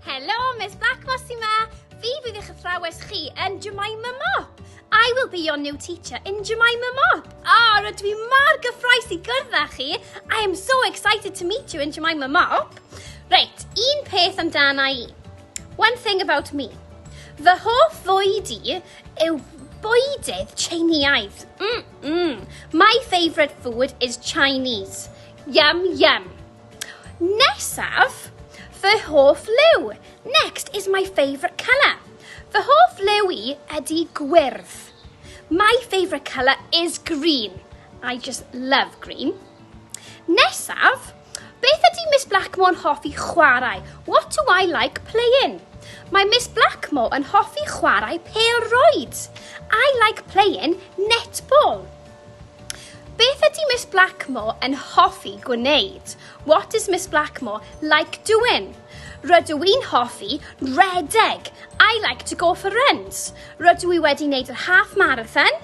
Helo, Miss Black Mossy ma! Fi fydd eich athrawes chi yn Jemima Mop. I will be your new teacher in Jemima Mop. Ah, oh, rydw i mor gyffroes i gwrdd â chi. I am so excited to meet you in Jemima Mop. Reit, un peth amdana i. One thing about me. Fy hoff fwyd i yw bwydydd Tsieineaidd. Mm, mm. My favourite food is Chinese. Yum, yum. Nesaf, fy hoff liw. Next is my favourite colour. Fy hoff liw i ydy gwyrdd. My favourite colour is green. I just love green. Nesaf, beth ydy Miss Blackmore'n hoffi chwarae? What do I like playing? Mae Miss Blackmore yn hoffi chwarae pel roed. I like playing netball. Beth ydy Miss Blackmore yn hoffi gwneud? What does Miss Blackmore like doing? Rydw i'n hoffi redeg. I like to go for runs. Rydw i wedi wneud yr half marathon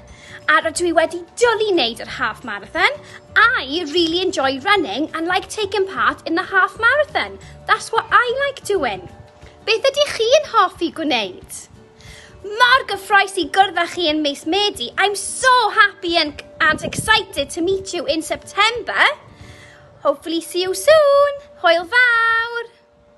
a rydw i wedi dwlu wneud yr half marathon. I really enjoy running and like taking part in the half marathon. That's what I like doing. Beth ydych chi'n hoffi gwneud? Mor gyffroes i gwrdd â chi yn mis Medi. I'm so happy and, and excited to meet you in September. Hopefully see you soon. Hwyl fawr!